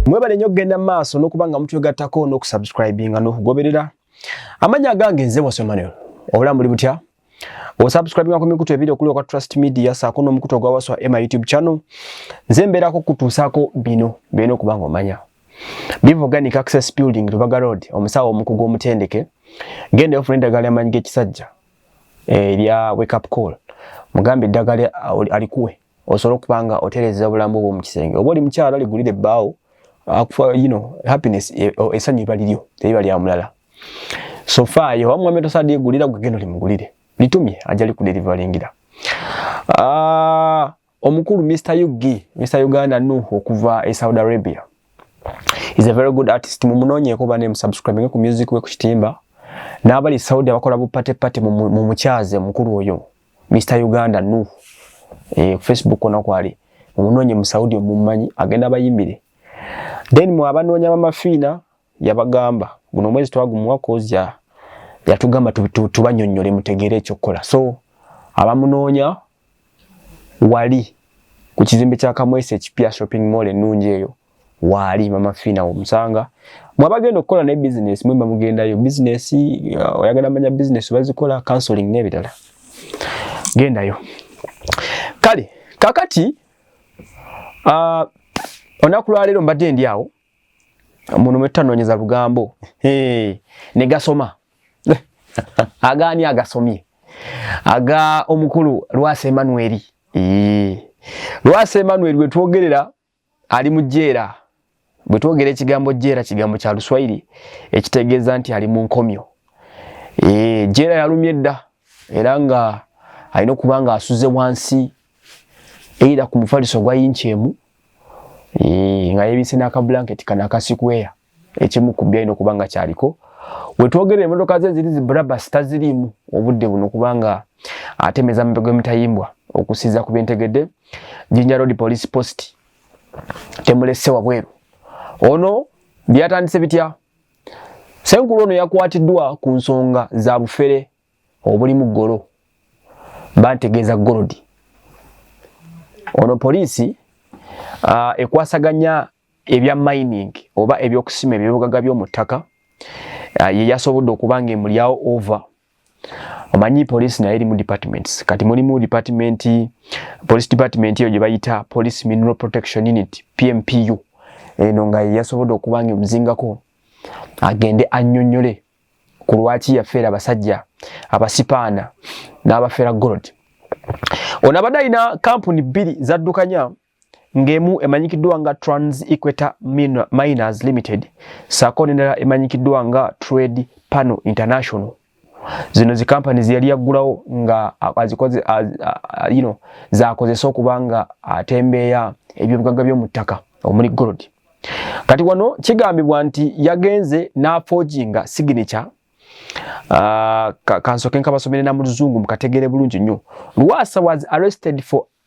mwebale nnyo okugenda mu maaso n'okuba nga mutwegattako n'okusubscribinga n'okugoberera amanya agange nze bwasio manuel obulamu buli butya osubscribinga ku mikutu ebiri okuli okwa trust media saako n'omukutu ogwa waswa ema youtube channel nze mbeerako kutuusaako bino byena okuba nga omanya biva organic access building lubaga road omusawo omukugu omutendeke genda ofuna eddagala lyamanyi g'ekisajja erya eh, wake up call mugambe eddagala alikuwe osobola okuba nga otereeza obulamu bwo mu kisenge oba oli mukyalo aligulira ebbaawo akufa you know happiness e, esanyu iba lilyo teiba lya mulala so far yo amwe meto sadi gulira kugeno limugulire litumye ajali ku deliveringila ah omukuru Mr UG Mr Uganda nu okuva e Saudi Arabia is a very good artist mumunonye ko bane subscribing ku music we ku kitimba nabali Saudi abakola bu party party mu mukyaze mukuru oyo Mr Uganda Nuh eh Facebook kona kwali omunonye mu Saudi omumanyi agenda bayimbire then mu abanonya mama Fina yabagamba guno mwezi twagumuwa kozya yatugamba tubanyonyole mutegere ekyo kola so abamunonya wali ku kizimbe kya Kamwese ekipya shopping mall enungi eyo waali mama fina omusanga mwabagenda okukola ne business mwemba mugendayo business uh, oyagala manya business bazikola counseling nebirala gendayo kale kakati uh, onaku lwaleero mbadde ndi awo muno mwetutanoonyeza lugambo hey, ne gasoma agaani agasomye aga omukulu lwasa emanueri lwasa emanueri wetwogerera ali mu jeera bwe twogera ekigambo jeera kigambo kya luswayiri ekitegeeza nti ali mu nkomyo eh, jeera yalumye dda era nga alina okuba nga asuze wansi eira ku mufaliso gwa yinki emu eh, nga yebise n'akabulanketi kana akasikweya ekimu ku byalina okuba nga kyaliko wetwogera emotoka ze ziri zibrabas taziriimu obudde buno kubanga atemeza mube gwemitayimbwa okusiza ku byentegedde jinja road police post temulese wabweru ono byatandise bitya senkulu ono yakwatiddwa ku nsonga za bufere obulimu golo bantegeeza golodi ono poliisi uh, ekwasaganya ebya mining oba ebyokusima ebibugaga by'omu ttaka ah, ye yasobodde okuba nga emulyawo over omanyi police naye erimu departments kati mulimu department police department eyo gye bayita police mineral protection unit pmpu eno nga ye yasobodde okuba nga emuzingako agende annyonnyole ku lwaki yafeera abasajja abasipaana n'abafeera gold ono abadde alina kampuni bbiri zaddukanya ng'emu emanyikiddwa nga Trans Equator Miners Limited saako n'endala emanyikiddwa nga Trade Panel International zino zi kampani zeyali yaggulawo nga azikoze you know zakozesa okuba nga atembeeya ebyobugagga by'omu ttaka omuli gold kati wano kigambibwa nti yagenze n'afoginga signature Ah, kansoke nkabasomere na muluzungu mukategere bulungi nnyo lwasa was arrested for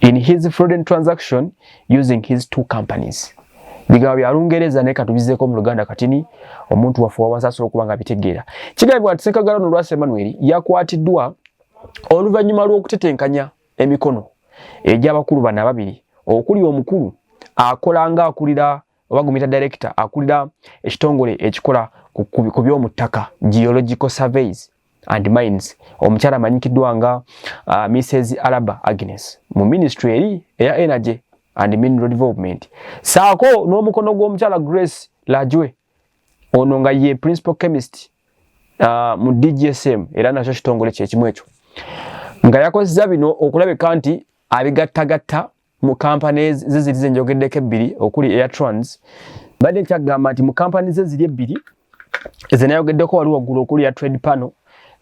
in his fraudulent transaction using his two companies bigambo bya lungereza naye katubizeko mu luganda katini omuntu waffe wawansi asobola okuba nga bitegeera kigambibwa nti sekagala no lwasa emmanuel yakwatiddwa oluvannyuma lw'okutetenkanya emikono egy'abakulu bano ababiri okuli omukulu akola nga akulira oba gumita director akulira ekitongole ekikola ku by'omu ttaka geological surveys and mines omukyala amanyikiddwa nga uh, mrs alaba agnes mu ministry eri eya energy and mineral development saako n'omukono gw'omukyala grace lajwe ono nga ye principal chemist uh, mu dgsm era nakyo kitongole kyekimu ekyo nga yakozesa bino okulabika nti abigattagatta mu kampani ze ziri ze njogeddeko ebbiri okuli airtrans badde nkyagamba nti mu kampani ze ziri ebbiri ezenayogeddeko wali waggulu okuli ya trade panel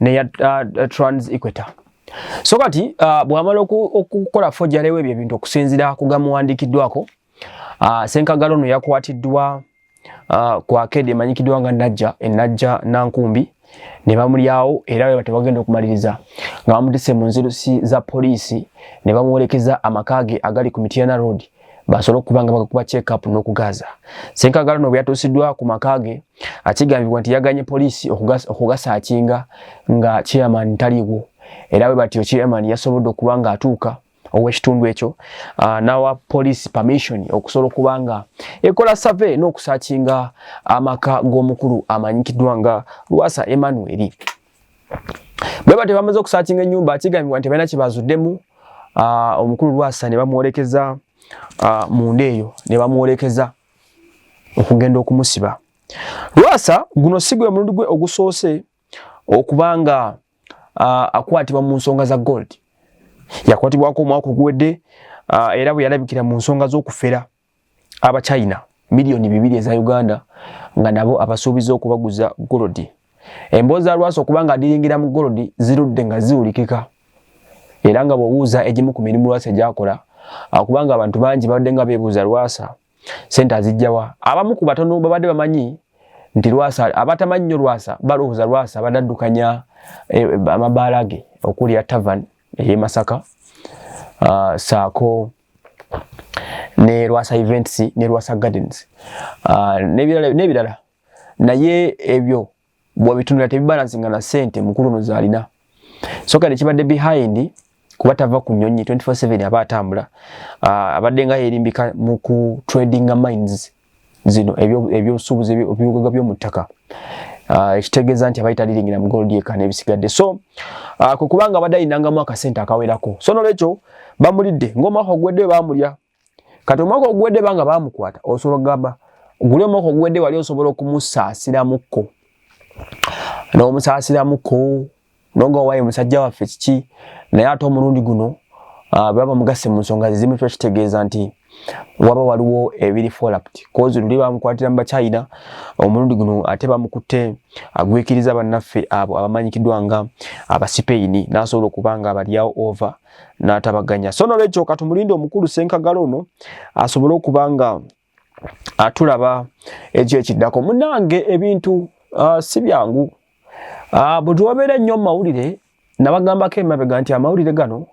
neya uh, uh, trans equator so kati uh, bwamala okukola fojalewo ebyo ebintu okusinzira ku gamuwandikiddwako uh, senkagalo no yakwatiddwa uh, ku akeedi emanyikiddwa nga Najja e Najja Nankumbi ne bamulyawo era bwe batebagenda okumaliriza nga bamutise mu nzirusi za poliisi ne bamuwerekeza amaka ge agali ku Mityana Road basobole okuba nga bagakuba check up n'okugaaza senkagala no bwe yatuusiddwa ku maka ge akigambibwa nti yaganye poliisi okugasaakinga nga chairman taliwo era bwe batyo chairman yasobodde okuba ng'atuuka ow'ekitundu ekyo uh, n'awa poliisi permission okusobola okuba nga ekola save n'okusaakinga amaka g'omukulu amanyikiddwa nga lwasa emmanuel bwe batyo bamaze okusaakinga ennyumba kigambibwa nti balina kyebazuddemu uh, omukulu lwasa ne bamwolekeza uh, munda eyo ne bamwolekeza okugenda okumusiba lwasa guno si gwe mulundi gwe ogusoose okuba nga uh, akwatibwa mu nsonga za gold yakwatibwako omwaka oguwedde uh, era bwe yalabikira mu nsonga z'okufera abachina miliyoni bibiri eza uganda nga nabo abasuubiza okubaguza golodi emboozi za lwasa okuba nga adiringira mu golodi zirudde nga ziwulikika era nga bw'obuuza egimu ku mirimu lwasa gyakola akubanga abantu bangi babadde nga beebuuza lwasa sente azijjawa abamu ku batono babadde bamanyi nti lwasa abatamanyi nnyo lwasa balowooza lwasa badaddukanya eh, amabaala ge okuli ya tavan eye masaka uh, saako ne lwasa events ne lwasa gardens uh, nebirala naye ebyo bwabitundula tebibalansinga na sente mukulu no zalina soka ne kibadde behind kuba tava ku nyonyi 24/7 aba atambula ah, abadde nga yerimbika mu ku trading mines zino ebyobusuubuzi ebyo ebibugaga byomu ttaka ah, ekitegeeza nti abayita liringira mu gold eka n'ebisigadde so ah, kwe kubanga abadde alinangamu akasente akawerako so nolwekyo bamulidde ng'omwaka ogwedde bamulya kati omwaka oguwedde banga bamukwata osobola okugamba guli omwaka oguwedde wali osobola okumusaasiramuko n'omusaasiramuko noga owaye musajja waffe kiki naye ate omulundi guno ah, baba mugasse mu nsonga zezimu kiba kitegeeza nti waba waliwo ebiri folact kozi luli bamukwatira mu bachina omulundi guno ate bamukutte agwikiriza bannaffe abo abamanyikiddwa nga abasipeyini nasobola okuba nga abalyawo over n'atabaganya so nolwekyo katumulinde omukulu senkagala ono asobole okuba nga atulaba ekyo ekiddako munange ebintu uh, si byangu uh, bwe tuwabeera ennyo mu mawulire nabagambako emabega nti amawulire gano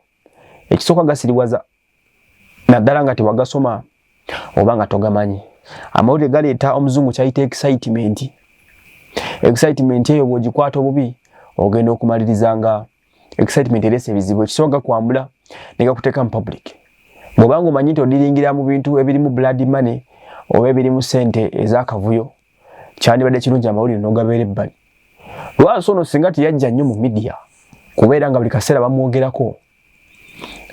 ekisooka gasiriwaza naddala nga tewagasoma oba nga togamanyi amawulire galeeta omuzungu kyayita excitement excitement eyo bwogikwata obubi ogenda okumaliriza nga excitement erese ebizibu ekisoboka kwambula negakuteeka mu public bwoba nga omanyi nti odiringira mu bintu ebirimu blood money oba ebirimu sente ezakavuyo kyandibadde kirungi amawulire nogabeera ebbali lwasi ono singa teyajja nnyo mu midiya kubeera nga buli kaseera bamwogerako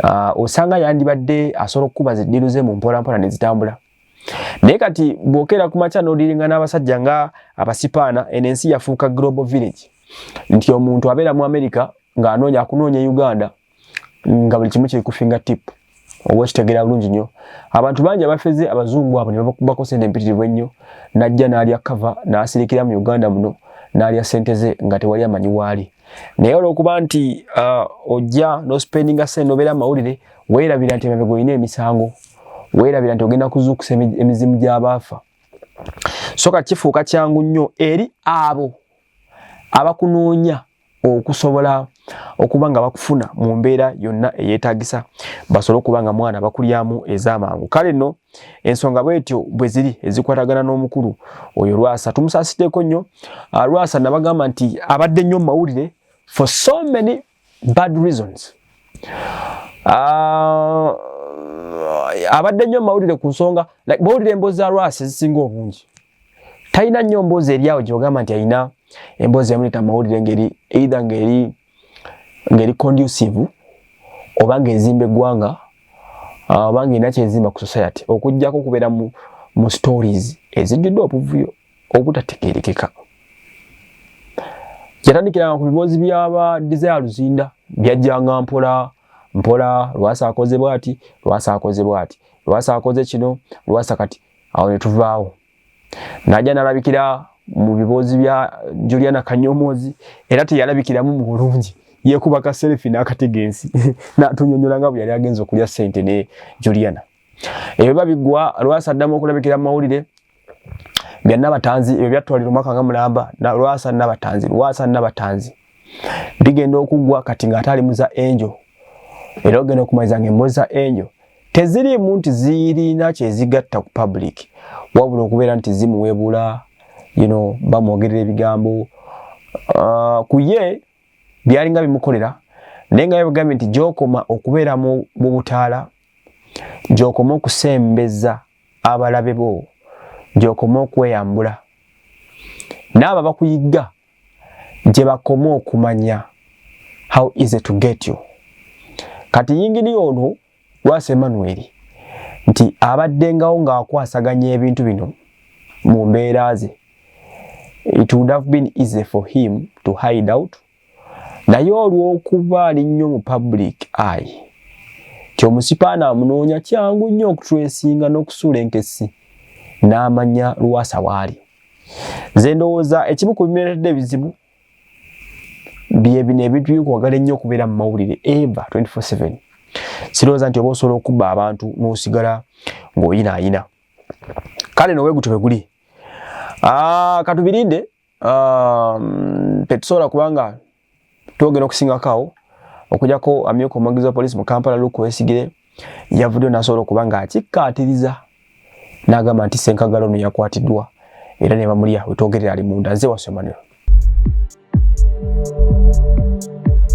ah, osanga yandibadde asobola okukuba ziddiru ze mu mpolampola nezitambula naye kati bwokera ku makya nodiringa n'abasajja nga abasipaana eno ensi yafuuka global village nti omuntu abeera mu america ng'anoonya akunoonya e uganda nga buli kimu kiri kufinga tip oba okitegera bulungi nnyo abantu bangi abafeze abazungu abo nebakubako sente empitirivu ennyo najja n'alya kava n'asirikira mu uganda muno n'alya sente ze nga tewali amanyi waali naye olwokuba nti uh, ojja nospendinga sente nobeera mawulire weerabira nti emabega olina emisango weerabira nti ogenda kuzuukusa emizimu gy'abaafa so kati kifuuka kyangu nnyo eri abo abakunoonya okusobola okuba nga bakufuna mu mbeera yonna eyeetagisa basobole okuba nga mwana bakulyamu ez'amangu kale nno ensonga bwetyo bwe ziri ezikwatagana n'omukulu oyo lwasa tumusasiddeko nnyo ah, lwasa nabagamba nti abadde nnyo mu mawulire for so many bad reasons ah, abadde nnyo mu mawulire ku nsonga like bawulira emboozi za lwasa ezisinga obungi talina nnyo mboozi eri awo gyogamba nti alina emboozi yamuleeta mu mawulire ngeri either ngeri ngeri conducive oba ng'ezimba eggwanga ah, oba ng'erina kyezimba ku society okuggyako okubeera mu, mu stories ezijjudde obuvuyo obutategeerekeka yatandikiranga ku biboozi byaba desire luzinda byajjanga mpola mpola lwasa akoze bwati lwasa akoze bwati lwasa akoze kino lwasa kati awo ne tuvaawo najja nalabikira mu biboozi bya juliana kanyomoozi era teyalabikiramu mu bulungi yekuba ka selfi n'akatega ensi natunyonyola nga bwe yali agenza okulya sente ne juliana ebyo biba biggwa lwasa addamu okulabikira mu mawulire bya nabatanzi ebyo byatwalira omwaka nga mulamba lwasa nabatanzi lwasa nabatanzi ligenda okugwa kati nga atali muza angel era ogenda okumaliza nga embozi za angel teziriimu nti zirina kyezigatta ku public wabula okubeera nti zimuwebula you know, bamwogerera ebigambo uh, ku ye byalinga bimukolera naye nga yabagambye nti gyokoma okubeera mu butaala gyokoma okusembeza abalabe bo gyokoma okweyambula naabo bakuyigga gyebakoma okumanya how easy to get you kati yinginiya ono lwasa emmanuel nti abaddengawo ng'akwasaganya ebintu bino mu mbeera ze it would have been easy for him to hide out naye olw'okuba ali nnyo mu public eye ti omusipaana amunoonya kyangu nnyo okutresinga n'okusuula enkessi n'amanya lwasa waali nze ndowooza ekimu ku bimeretedde ebizibu byebino ebintu byokwagala ennyo okubeera mu mawulire eva 24/7 sirowooza nti oba osobola okubba abantu n'osigala ng'oyinaayina kale nowe gutyo bwe guli ah, katubirinde ah, tetusobola kubanga twogera okusingako awo okujako amyuka omwogezi wa poliisi mu kampala luke wesigire yavuddeyo nasobola okuba nga akikkaatiriza n'agamba nti senkagala ono yakwatiddwa era ne bamulya wetwogerera ali munda nze wasomaniro